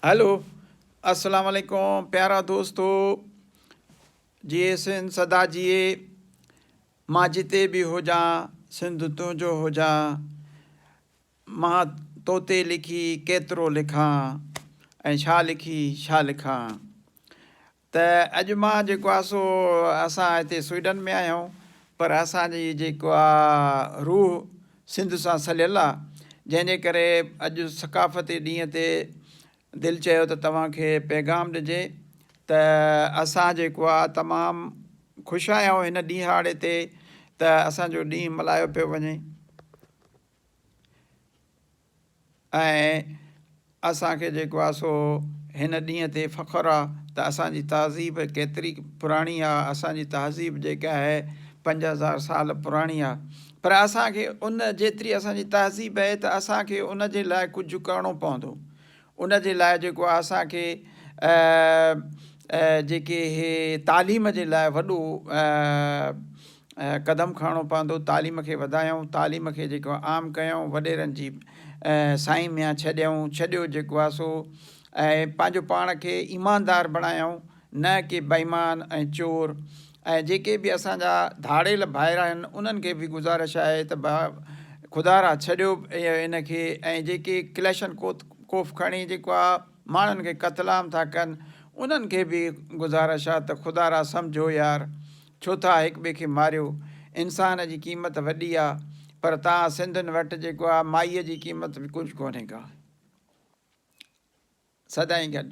Hello اسلام عليڪم پيارا دوستو جيئي سنڌ سدا جيئي مان جتي به هجان سنڌ تنهنجو هجان مان توتي لکي ڪيترو لکان ۽ ڇا لکي ڇا لکان ته اڄ مان جيڪو آهي سو اسان هتي سوئيڊن ۾ آهيون پر اسان جي جيڪو آ روح سنڌ سان سليل آ جنهن جي ڪري اڄ ثقافتي ڏينهن تي دل چيو ته توهان کي پيغام ڏجي ته اسان جيڪو آ تمام خوش آهيون هن ڏينهاڙي تي ته اسان جو ڏينهن ملهايو پيو وڃي. ۽ اسان کي جيڪو آ سو هن ڏينهن تي فخر آ ته اسان جي تهذيب ڪيتري پراڻي آ، اسان جي تهذيب جيڪا آهي پنج هزار سال پراڻي آ پر اسان کي ان جيتري اسان جي تهذيب آهي ته اسان کي ان جي لاء ڪجهه ڪرڻو پوندو. ان جي لاء جيڪو آهي اسان کي جيڪي اهي تعليم جي لاء وڏو قدم کڻڻو پوندو تعليم کي وڌايون تعليم کي جيڪو آهي عام ڪيون وڏيرن جي سائين ميان ڇڏيون ڇڏيو جيڪو آهي سو ۽ پنهنجو پاڻ کي ايماندار بڻايون نه ڪي بيمان ۽ چور ۽ جيڪي به اسان جا ڌاڙيل ڀائر آهن انهن کي به گذارش آهي ته ڀا خدارا ڇڏيو ان کي ۽ جيڪي ڪليشن ڪوت ڪوف کڻي جيڪو آ ماڻهن کي قتل عام ٿا ڪن انهن کي به گذارش آ ته خدارا سمجهو يار ڇو ٿا هڪ ٻئي کي ماريو انسان جي قيمت وڏي آ پر تان سنڌين وٽ جيڪو آ مائي جي قيمت به ڪجهه ڪونهي ڪا سدائين گڏ.